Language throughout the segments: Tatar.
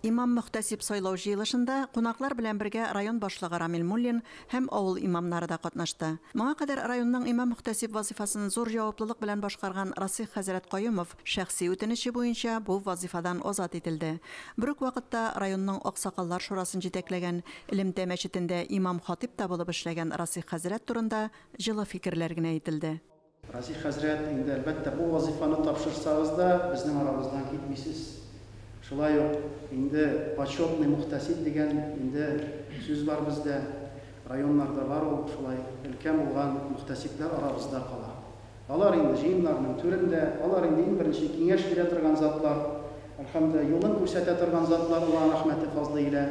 Имам-мөхтәсиб сайлау җыелышында кунаклар белән бергә район башлыгы Рамил Муллин һәм авыл имамнары да катнашты. Моңа кадәр районның имам-мөхтәсиб вазыйфасын зур җаваплылык белән башкарган Расыйх хәзрәт Каюмов шәхси үтенече буенча бу вазыйфадан азат ителде. Бер үк вакытта районның аксакаллар шурасын җитәкләгән, элемтә мәчетендә имам-хатыйп та булып эшләгән Расыйх хәзрәт турында җылы фикерләр генә әйтелде. Разый хәзрәт, инде, әлбәттә, бу вазыйфаны тапшырсагыз да, безнең арабыздан китмисез. Шулай ук, инде, почетный мухтәсиб дигән, инде, сүз бар бездә. Районнарда бар ул, шулай, өлкән булган мухтәсибләр арабызда кала. Алар, инде, җыеннарның түрендә, алар, инде, иң беренче киңәш бирә торган затлар, әлхәмдүлиллаһ, юлын күрсәтә торган затлар Аллаһ рәхмәте, фазлы илә.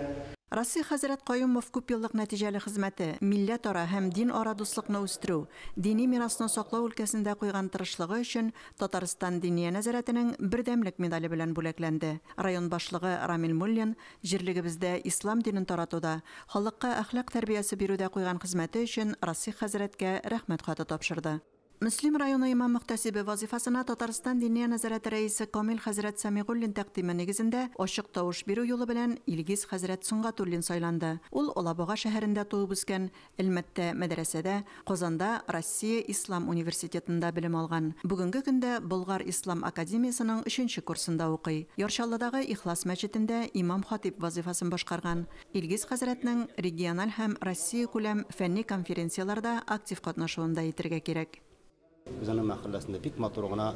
Расый хәзрәт Каюмов күпьеллык нәтиҗәле хезмәте, милләтара һәм динара дуслыкны үстерү, Дини мирасны саклау өлкәсендә куйган тырышлыгы өчен Татарстан Диния нәзарәтенең Бердәмлек медале белән бүләкләнде. Район башлыгы Рамил Муллин җирлегебездә ислам динен таратуда, халыкка әхлак тәрбиясе бирүдә куйган хезмәте өчен Расих хәзрәткә Рәхмәт хаты тапшырды. Мөслим районы имам-мөхтәсибе вазыйфасына Татарстан Диния нәзарәте рәисе Камил хәзрәт Сәмигуллин тәкъдиме нигезендә ачык тавыш бирү юлы белән Илгиз хәзрәт Сөнгатуллин сайланды. Ул Алабуга шәһәрендә туып-үскән, Әлмәттә мәдрәсәдә, Казанда Россия ислам университетында белем алган. Бүгенге көндә Болгар ислам академиясенең өченче курсында укый. Яр Чаллыдагы Ихлас мәчетендә имам-хатыйб вазыйфасын башкарган. Илгиз хәзрәтнең региональ һәм Россиякүләм фәнни конференцияләрдә актив катнашуын да әйтергә кирәк. Үзенең мәхәлләсендә бик матур гына,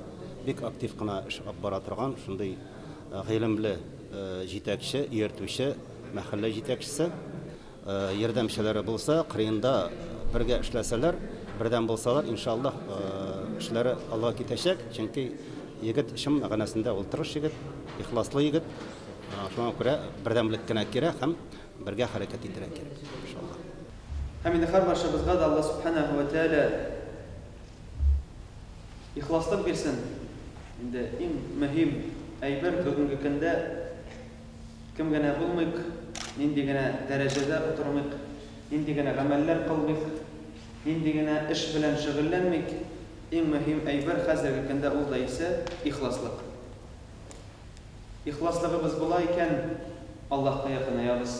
бик актив кына эш алып бара торган шундый гыйлемле җитәкче, ияртүче мәхәллә җитәкчесе. Ярдәмчеләре булса, кырыенда бергә эшләсәләр, бердәм булсалар, иншаллаһ, эшләре алга китәчәк. Чөнки егет чын мәгънәсендә ул тырыш егет, ихласлы егет. Шуңа күрә бердәмлек кенә кирәк һәм Бергә хәрәкәт итәргә кирәк, иншаллаһ. Һәм инде һәрбарчабызга да Аллаһ Сүбхәнәһү вә Тәгалә ихласлык бирсен. Инде иң мөһим әйбер бүгенге көндә, кем генә булмыйк, нинди генә дәрәҗәдә утырмыйк, нинди генә гамәлләр кылмыйк, нинди генә эш белән шөгыльләнмик, иң мөһим әйбер хәзерге көндә ул да исә ихласлык. Ихласлыгыбыз була икән, Аллаһка якынаябыз.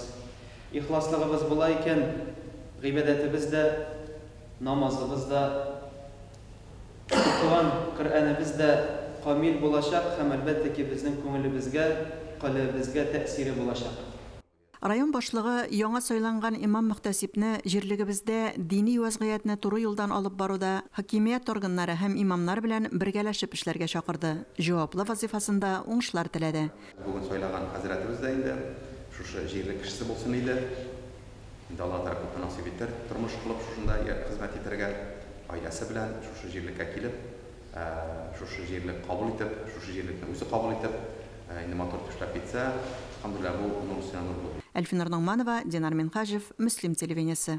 Ихласлыгыбыз була икән, гыйбадәтебез дә, намазыбыз да, укыган Коръәнебез дә камил булачак һәм, әлбәттә ки, безнең күңелебезгә, калебезгә тәэсире булачак. Район башлыгы яңа сайланган имам-мөхтәсибне җирлегебездә дини вәзгыятьне туры юлдан алып баруда хакимият органнары һәм имамнар белән бергәләшеп эшләргә чакырды, җаваплы вазыйфасында уңышлар теләде. Бүген сайлаган хәзрәтебез дә инде шушы җирлек кешесе булсын иде. Инде Алла тарафыннан насыйп итер, тормыш кылып шушында хезмәт итәргә, гаиләсе белән шушы җирлеккә килеп, Шушы җирлек кабул итеп, шушы җирлекне үзе кабул итеп, инде матур төшләп китсә, Хәмдүлилләһ, бу нур өстенә нур булыр. Әлфинур Ногманова, Динар Минһаҗев, Мөслим телевидениесе.